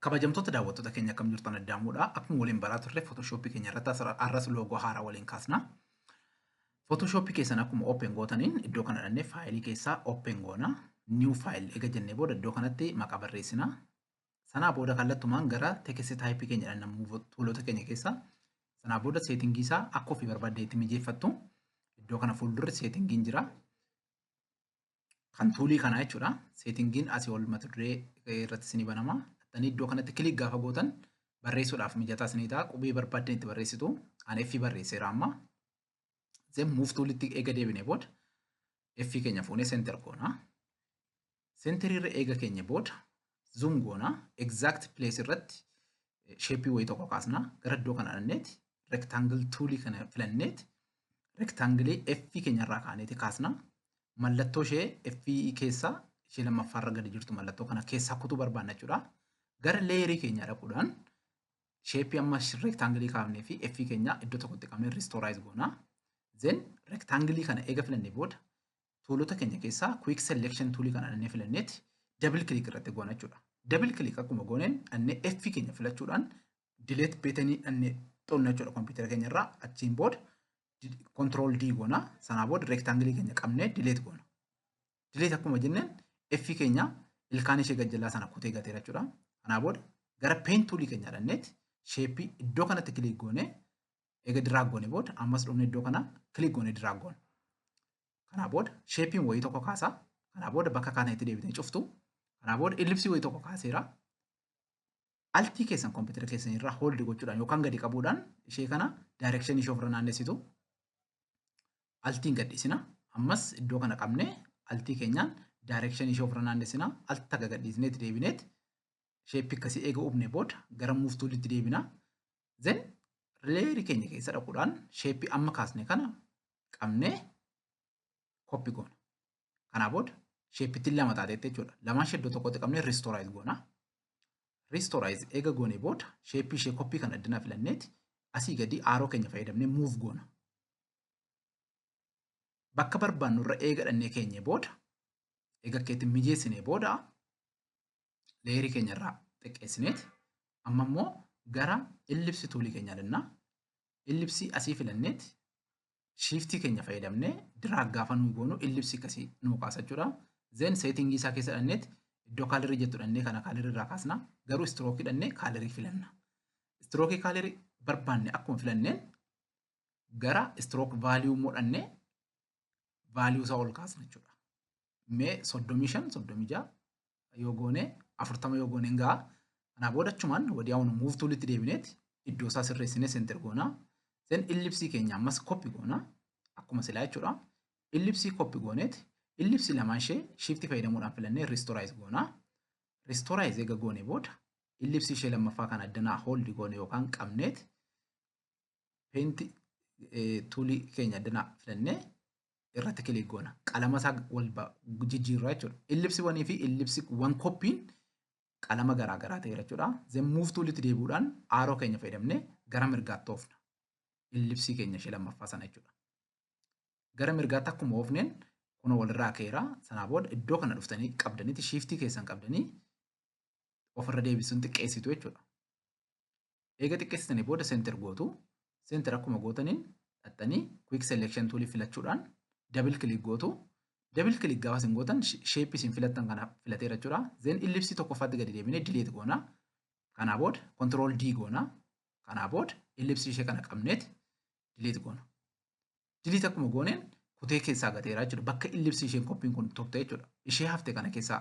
Kabajamtoota daawwattoota keenya akkam jirtu ana daamuudha. Akkuma waliin baraa turre Photoshop keenya irratti asirra- arras loogoo haaraa waliin kaasna. Photoshop keessan akkuma open gootaniin iddoo kana dhannee faayilii keessaa open goona. New file ega jennee booda iddoo kanatti maqaa barreessina. Sanaa booda kallattumaan gara text type keenya dhanna move toolota keenya keessaa. Sanaa booda seetingii isaa akka ofii barbaaddeetti mijeeffattu. Iddoo kana fuuldurri seetingiin jira. kan tuulii kanaa jechuudha. Seetingiin asii ol mata duree irratti isinii banama. Dhattanii iddoo kanatti kilik gaafa gootan barreessuudhaaf mijataa isinii ta'a. Qubee barbaaddan itti barreessitu. Ani F barreesseera amma. Zem muuf tuulitti eega deebinee booda F keenya fuunee seentar goona. Seentariirra eega keenya booda zoom goona exact place irratti sheepii wayii tokko kaasna gara iddoo kana dhaqneeti rectangle toolii kana filanneeti rectangle F keenya irraa kaaneeti kaasna mallattoo ishee F keessaa ishee lammaffaa irra gadi jirtu mallattoo kana keessaa kutuu barbaanna jechuudha gara leeyerii keenya dhaquudhaan sheepii amma rectangle kaafnee fi F keenya iddoo tokkotti qabnee restore goona then rectangle kana eega filannee booda tuulota keenya keessaa quick selection tuulii kana dhannee filanneeti double click irratti goona jechuudha. Double click akkuma gooneen dhannee F keenya filachuudhaan delete beetenii dhannee xunna jechuudha kompiitara keenya irraa achiin booda control D goona sanaa booda rectangle keenya qabnee delete goona. Delete akkuma jenneen F keenya ilkaan ishee gajjallaa sana kutee gateera jechuudha. Kanaa booda gara pen tuulii keenya dhanneeti sheeppii iddoo kanatti click goonee Eega diraag goone booda ammas dhufne iddoo kana kilik goone diraag goone. Kanaa booda sheepiin wayii tokko kaasa. Kanaa booda bakka kaatan itti deebitee cuftu. Kanaa booda illipsii wayii tokko kaaseera. Altii keessan kompiitara keessan irraa hooldi gochuudhaan yookaan gadi qabuudhaan ishee kana daayirekshinii ishee ofirra naannessitu. Altiin gadhiisina. Ammas iddoo kana qabnee altii keenyaan daayirekshinii ishee ofirra naannessina. Altii takka gadhiisneet deebineet sheeppii akkasii eega uumne booda gara muuftuulitti deebina. Then layer keenya keessa dhaquudhaan sheeppii amma kaasne kana qabnee koppi goona. Kanaa booda sheeppittiin lama taateetti jechuudha. Lamaan ishee iddoo tokkotti qabnee ristooraayiz goona. Ristooraayiz eega goonee booda sheeppii ishee koppii kan addana filanneeti asii gadii aaroo keenya fayyadamnee muuf goona. Bakka barbaannu irra eega dhannee keenyee booda eega keetti mijeessinee booda leerii keenya irraa xiqqeessineet amma immoo gara illipsi tuulii keenya danna illipsii asii filanneet shiiftii keenya fayyadamne diraag gaafa nuu goonu illipsii akkasii nuu kaasa jechuudha. Zeen seetingii isaa keessa dhanneet iddoo kaalirii jettu dhannee kana kaalirii irraa kaasna garuu istirookii dhannee kaalirii filanna. Istirookii kaalirii barbaanne akkuma filanneen gara istirook vaaliyuu immoo dhannee value isaa ol kaasna jechuudha. Mee 35, 36 yoo goone 40 yoo goone hin ga'a. Kanaa booda achumaan wadiyaawun move toolitti deebineeti iddoo isaa sirreessinee center goona. Sen illipsii keenya ammas copy goona. Akkuma silaa jechuudha. Illipsii copy gooneeti. Illipsii lamaan ishee shiiftii fayyadamuudhaan filannee ristorize goona. Ristorize eega goone booda illipsii ishee lammaffaa kan addanaa hold goone yookaan qabneeti Paint tuulii keenya addana filannee irratti kilik goona. Qalama isaa wal jijjiirraa jechuudha. Illipsi wanii fi illipsi wan koppiin qalama garaa garaa ta'eera jechuudha. Zeen muuf tuulitti deebi'uudhaan aaroo keenya fayyadamnee gara mirgaatti oofna. Illipsii keenya ishee lammaffaa sana jechuudha. Gara mirgaatti akkuma oofneen kun walirraa ka'eera. Sanaa booda iddoo kana dhuftanii qabdaniiti shiiftii keessan qabdanii ofirra deebisuun xiqqeessitu jechuudha. Eega xiqqeessitanii booda center gootu. Center akkuma gootaniin dhaxxanii quick selection tool filachuudhaan double click gootu. Double click gaafa isin gootan shape isin filattan kana filateera jechuudha. Then ellipse tokkoffaatti gadi deebinee delete goona. Kanaa booda control D goona. Kanaa booda ellipse ishee kana qabneeti delete goona. Delete akkuma gooneen kutee keessaa gateera jechuudha. Bakka ellipse isheen koppiin kun turte jechuudha. Ishee hafte kana keessaa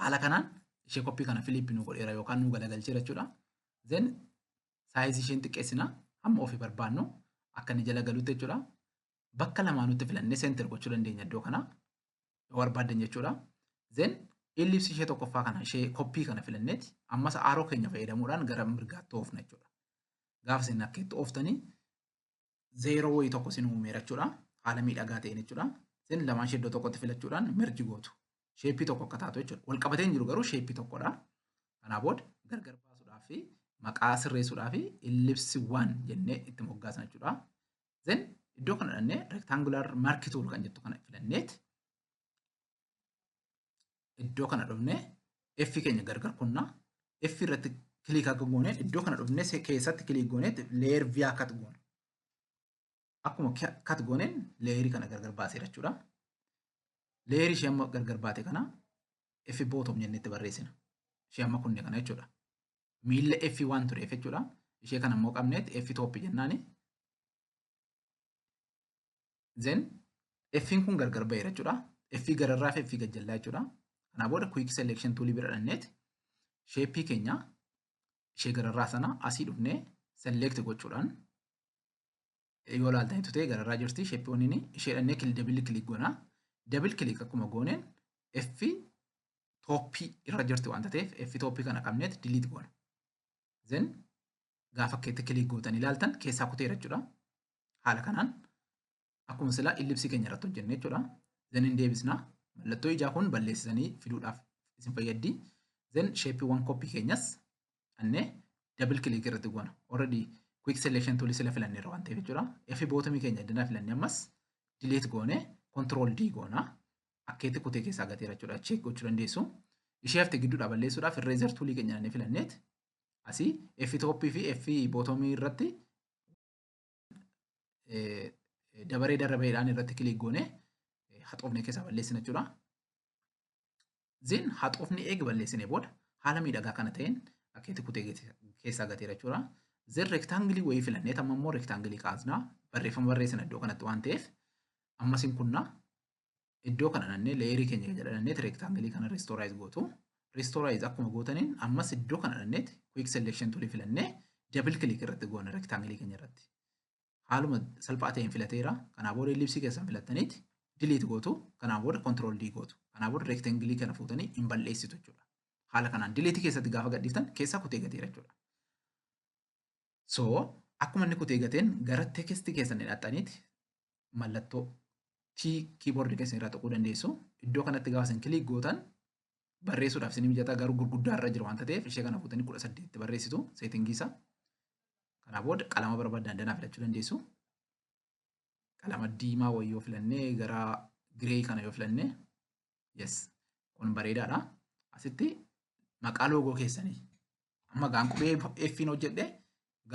Haala kanaan ishee koppii kana Filiip nu godheera yookaan nu galagalcheera jechuudha. Then saayizii isheen xiqqeessina hamma ofii barbaannu akka inni jala galutti jechuudha. Bakka lamaa nutti filannee seenter gochuu dandeenya iddoo kana yoo barbaaddan jechuudha. Then ellipsii ishee tokkoffaa kana ishee koppii kana filanneeti ammas aaroo keenya fayyadamuudhaan gara mirgaatti oofna jechuudha. Gaafa isin akkeetti ooftanii zeeroo wayii tokko sin uumeera jechuudha. Haala miidhagaa ta'een jechuudha. Sin lamaan ishee iddoo tokkotti filachuudhaan merji gootu. Sheeppii tokko akka taatu jechuudha. Wal qabatee hin jiru garuu sheeppii tokkodha. Kanaa booda gargar baasuudhaaf fi maqaa sirreessuudhaaf illipsi waan jennee itti moggaasna jechuudha. Zin iddoo kana dhannee rectangular mark tool kan jettu kana filanneet iddoo kana dhufnee F keenya gargar kunna F irratti kiliik akka goone iddoo kana dhufnee se- keessatti kiliik goone leer viyaa kat goona. Akkuma kia- kat gooneen leerii kana gargar baaseera jechuudha. Leerii ishee amma gargar baate kana F bootom jennee itti barreessina. Ishee amma kunne kana jechuudha. Miilla F waan tureef jechuudha. Ishee kana immoo qabneetti F tooppi jennaani. Then F'n kun gargar ba'eera jechuudha. F gararraa fi F gajjallaa jechuudha. Kanaa booda quick selection tool bira dhanneet sheeppii keenya ishee gararraa sana asii dhufnee select gochuudhaan yoo ilaaltan itti ta'e gararraa jirti sheeppii waniin ishee dhannee dabil kilik goona. Dabil kilik akkuma gooneen F tooppii irra jirti waan ta'eef F tooppii kana qabneet delete goona. Then gaafa keetti kilik gootan ilaaltan keessaa kuteera jechuudha. Haala kanaan akkuma silaa illipsii keenya irratti hojjenne jechuudha. Zan hin deebisna. Mallattoo ijaa kun balleessisanii fiduudhaaf isin fayyaddi. Zan sheeppiiwwan koppii keenyas annee double click irratti goona. Already quick selection tool sila filanneerra waan ta'eef jechuudha. F bootamii keenya danaa filannee ammas delete goone control D goona. Akkeetti kutee keessaa gateera jechuudha. Check gochuu dandeessu. Ishee hafte gidduudhaa balleessuudhaaf irreezer toolii keenya nannee filanneet asii F toppii fi F bootomii irratti dabaree darabeedhaan irratti kilik goone haxoofne keessaa balleessina jechuudha. Zin haxoofni eega balleessine booda haala miidhagaa kana ta'een akkeetti kutee keessaa gateera jechuudha. Zin rektaangilii wayii filannee tamma immoo rektaangilii kaasnaa barreeffama barreessina iddoo kanatti waan ta'eef ammas hin kunnaa iddoo kana dhannee leeyerii keenya kan jedhanneeti reektaangilii kana riistooraayiz gootu. Riistooraayiz akkuma gootaniin ammas iddoo kana dhanneeti kuwiik seleekshin tulii filannee dabil kilik irratti goona reektaangilii keenya irratti. Haaluma salphaa ta'een filateera. Kanaa booda ellipsii keessan filattaniiti diliit gootu. Kanaa booda kontirool dii gootu. Kanaa booda reektaangilii kana fuutanii hin balleessitu jechuudha. Haala kanaan diliitii keessatti gaafa gadhiiftan keessaa kutee gateera jechuudha. So akkuma inni kutee gateen gara text keessan hidhaxxaniiti mallattoo T keyboard keessan irraa tuquu dandeessu. Iddoo kanatti gaafa isin click gootan barreessuudhaaf isin mijataa garuu gurguddaa irra jira waan ta'eef ishee kana fuutanii kudha saddeetti barreessitu seetingii isaa. Kanaa booda qalama barbaadan danaa filachuu dandeessu. Qalama diimaa wayii yoo filannee gara giree kana yoo filannee yes kun bareedaadha. Asitti maqaa loogoo keessanii Amma gaa qubee F'n hojjedhe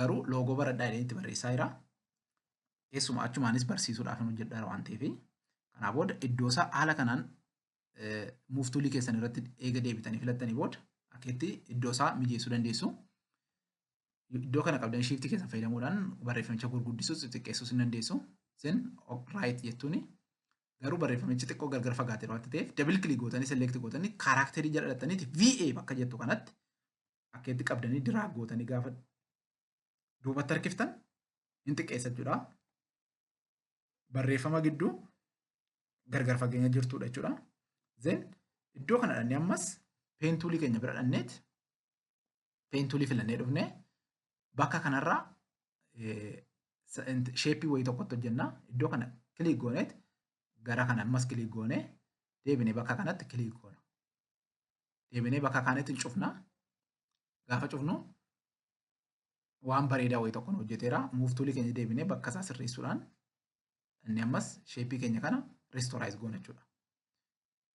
garuu loogoo baradhaa jedhee itti barreessaa jira. Keessumaa achumaanis barsiisuudhaaf hin hojjedhaa waan ta'eef. Kanaa booda iddoo isaa haala kanaan muuftuulii keessan irratti eega deebitanii filattanii booda akkeetti iddoo isaa mijeessuu dandeessu. Iddoo kana qabdan shiiftii keessan fayyadamuudhaan barreeffamicha gurguddisuus xixiqqeessuus hin dandeessu. Isin raayit jettuuni Garuu barreeffamichi xiqqoo gargar fagaateera wanti ta'eef double click gootanii select gootanii kaaraakterii jala dhattaniiti VA bakka jettu kanatti akka itti qabdanii diraag gootanii gaafa duubatti harkiftan hin xiqqeessa jechuudha. Barreeffama gidduu gargar fageenya jirtudha jechuudha. Zen iddoo kana dhannee ammas peentuulii keenya bira dhanneeti peen tuulii filannee dhufne bakka kanarraa sheeppii wayii tokkotti hojjenna iddoo kana kiliik gooneet gara kana ammas kiliik goone deebinee bakka kanatti kiliik goona deebinee bakka kaanitti cufna gaafa cufnu waan bareedaa wayii tokkoon hojjeteera muuf tuulii keenya deebinee bakka isaa sirreessuudhaan inni ammas sheeppii keenya kana ristooraayiz goona jechuudha.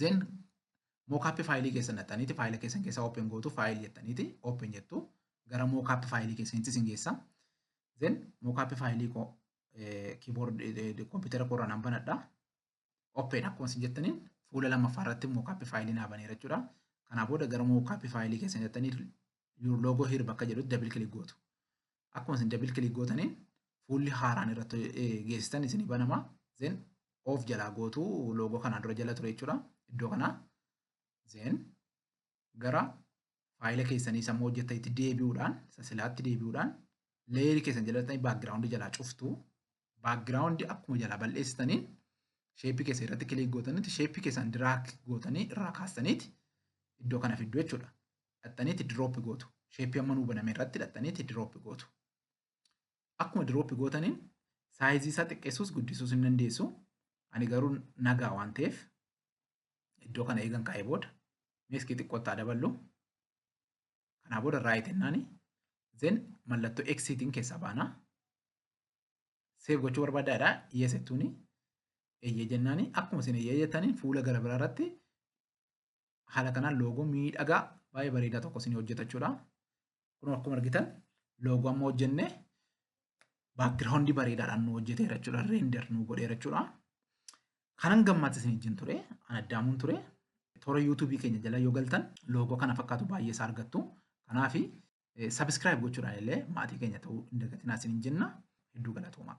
Then mockup faayilii keessan dhaxxaniiti faayila keessan keessa open gootu faayil jettaniiti open jettu gara mockup faayilii keessanitti isin geessa. Then mockup faayilii koo keyboard kompiitara koorraa nan banadha. Open akkuma isin jettaniin fuula lammaffaa irratti mockup faayilii naa baneera jechuudha. Kanaa booda gara mockup faayilii keessan jettanii your logo here bakka jedhutti double click gootu. akkuma isin double click gootaniin fuulli haaraan irratti geessitan isin banama zen of jalaa gootu loogoo kanaa dura jala ture jechuudha iddoo kanaa zen gara faayila keessanii sammuu hojjetan itti deebi'uudhaan sasilaatti deebi'uudhaan leeyerii keessan jalatanii baakgiraawundi jalaa cuftu baakgiraawundi akkuma jalaa bal'eessitaniin sheeppii keessan irratti kiliik gootanitti sheeppii keessan diraak gootanii irraa kaastaniiti iddoo kana fiddu jechuudha. dhaxxaniiti drop gootu. Sheeppii amma nuu baname irratti dhaxxaniiti drop gootu. Akkuma drop gootaniin saayizii isaa xiqqeessuus guddisuus hin dandeessu. Ani garuu nagaa waan ta'eef iddoo kana eegan kaa'ee booda meeskii xiqqootti haa daballu. Kanaa booda raayit jennaani. Zen mallattoo eksiitiin keessaa baana. Seef gochuu barbaaddaa jedha. Yes jettuuni. Eeyyee jennaani. Akkuma isin eeyyee jettaniin fuula gara biraa irratti haala kanaan loogoo miidhagaa baay'ee bareedaa tokko isin hojjeta jechuudha. Kun akkuma argitan loogoo amma hojjenne baakgiraawundi bareedaadhaan nu hojjeteera jechuudha. Reender nu godheera jechuudha. Kanan gammaatti isin wajjin ture, an addaamuun ture. Toora yuutuubii keenya jala yoo galtan loogoo kana fakkaatu baay'ee isaa argattu. Kanaaf sabiskiraayib gochuudhaan illee maatii keenya ta'uu hin dagatinaa isin jenna. Hedduu galatoomaa.